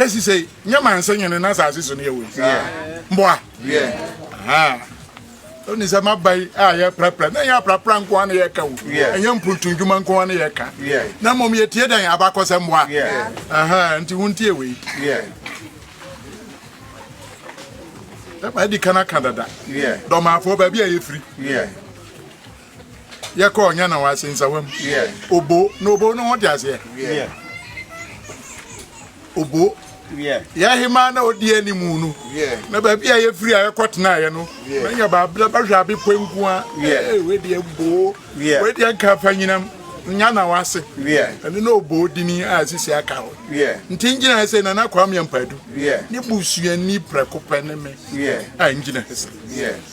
sɛ sisei nyɛ ma nsɛ nyene na asase so ne yɛwɔ mboa woni sɛ maba yi a yɛprapra na ɛnyɛ aprapra nko a na yɛka o ɛnyɛ mpuntu ndwuma nko a na yɛka na mmom yɛtie dɛn abakɔsɛ mmoa nti wontie wei ɛma adi ka no aka dada dɔmaafoɔ baabi a yɛfiri yɛkɔ ɔnya na wase nsawa mu obo na obo no ho te aseɛ obo yɛhema na ɔdi anim no na baabi a yɛfiri a yɛkɔ tenaeɛ no na nya baabla bɛhwɛ abepɔ nko a wedeɛ boo wedeɛ nka fa nyinam nya na wase ɛno na ɔboo dini a sisi aka hɔ nti ngyina sɛ nana kwame ampadu ne busuani prɛko pɛ ne me a ngyina sɛ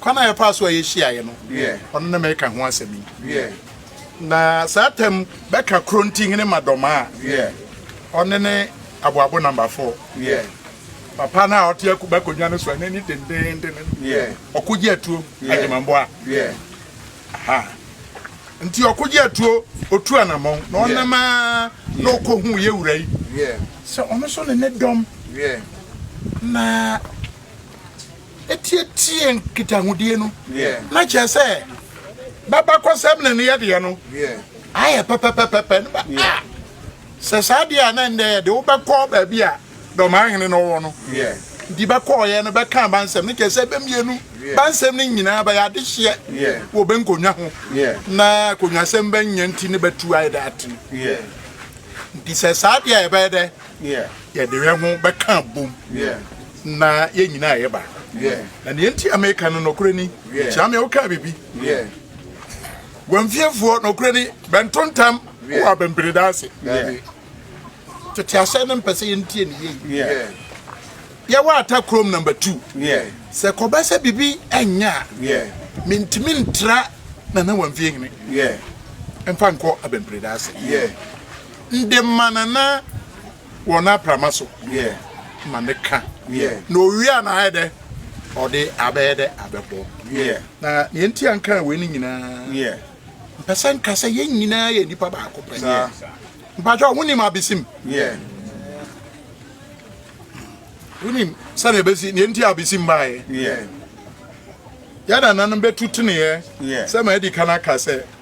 Kwan a ɛfaa so a yehyiae no, ɔno na mɛka ho asɛm yi. Na saa tam bɛka Kronti hene Madoma a ɔne ne aboabo namba fo. Papa no a ɔte akuba akonnwa no so a n'ani dendeenden no, ɔko gye atuo adwemamboa. Aha. Nti ɔko gye atuo, otu anammɔn, na ɔnam a na ɔkɔ hu yɛ wura yi sɛ ɔno nso ne ne dɔm na Ɛtiatia nkitahodie no, na kyerɛ sɛ babakɔsɛm na ne yɛdeɛ no ayɛ pɛpɛpɛpɛpɛ no ba a sɛ saa deɛ a na ɛndɛ yɛde wobɛkɔ baabi a dɔmahene no wɔ no nti bɛkɔɔyɛ no bɛka bansɛm no kyerɛ sɛ bɛmmienu bansɛm no nyinaa bɛyɛ adehyeɛ wɔ bɛnkonnwa ho na akonnwasɛm bɛnyɛ nti ne bɛtu ayɛ dɛ atene nti sɛ saa deɛ a yɛbɛyɛ dɛ yɛde yɛ ho bɛka bom na yɛn nyinaa yɛ baako na nea nti a meka no nɔkorɛ ni kyia me wokaa biribi wɔmfiefoɔ nɔkorɛ ni bɛntontam wɔ abɛmperedaa ase tete ahyɛ no mpɛ sɛ yɛntie ne yei yɛwɔ ata kurom number two sɛ kɔba sɛ biribi ɛnyɛ a mentumi ntra na na wɔmfie hene mfa nkɔ abɛmperedaa ase nde ma nana wɔ n'aprama so ma ne ka, na owia na ayɛ dɛ ɔde abɛyɛ dɛ abɛbɔ. Na nea nti a nkaa wei no nyinaa, mpɛ sɛ nka sɛ yɛn nyinaa yɛ nnipa baako pɛ. Mpakyɛw, wonim abesim? Wonim sɛnea ebesi, nea nti a abesim baeɛ? Yɛn nananom bɛtu teneeɛ sɛ ma adi kan aka sɛ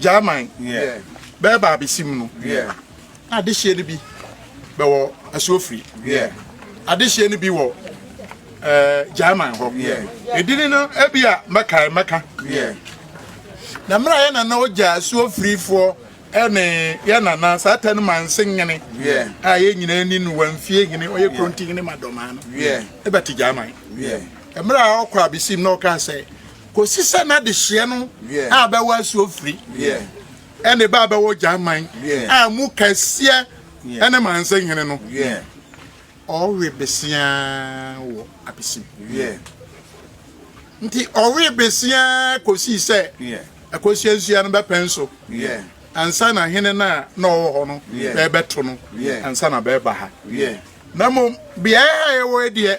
German bɛɛba abɛsi mu no na adehyeɛ no bi bɛwɔ asuofiri adehyeɛ no bi wɔ eh, German hɔ edini no ebi a mɛkae mɛka na mmerɛ a yɛ nana ɔgya asuofirifoɔ ɛne yɛ nana saa ta no ma nse nyene a yɛ nyinaa ni no wamfie hene ɔyɛ kronti hene ma dɔmaa no ɛbɛte German mmerɛ a ɔkɔ abesim na ɔkaa sɛ Kɔsi sɛ n'adehyeɛ no a bɛwɔ asuofiri ne bɛ a bɛwɔ Gyaman a mu kɛseɛ ne Manse hene no ɔwe beseaa wɔ Apesim. Nti ɔwe beseaa kɔsii sɛ Akosua Nsua no bɛpɛ nso ansa na hene no a na ɔwɔ hɔ no bɛɛbɛto no ansa na bɛɛba ha. Na mmom beaɛ ha yɛwɔ yi deɛ,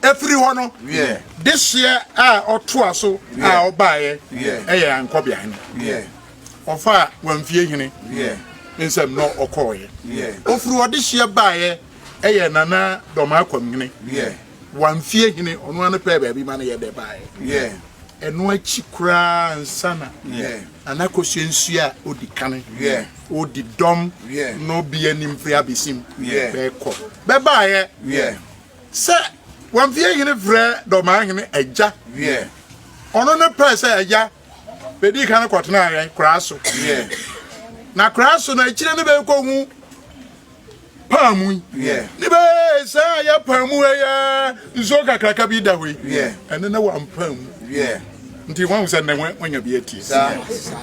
Ɛfiri hɔ no, dehyeɛ a ɔtoa so a ɔbaeɛ yɛ Ankɔbeahene. Ɔfaa Wamfiehene nsam na ɔkɔeɛ. Ɔfiri ɔdehyeɛ baeɛ yɛ Nana Dɔmakwamhene. Wamfiehene, ɔno ara no pɛɛ baabi ma no yɛ dɛ baeɛ. Ɛno akyi koraa ansa na Nana Kosua Nsuo a ɔdi kan, ɔdi dɔm no bi anim firi Abesim bɛkɔ, bɛbaeɛ. Sɛ Wamfeɛ Hene frɛ Dɔmaa Hene agya wiɛ, ɔno ne pɛɛ sɛ agya bɛdii kan kɔtenaa yɛn koraa so wiɛ, na koraa so no akyire ne bɛkɔhu paamu yi ne bɛɛ saa a yɛ paamu ha yɛ nsuo kakraka bi da hɔ yi, ɛne ne wampaamu wiɛ nti wahu sɛ nnɛ wanya bi atie.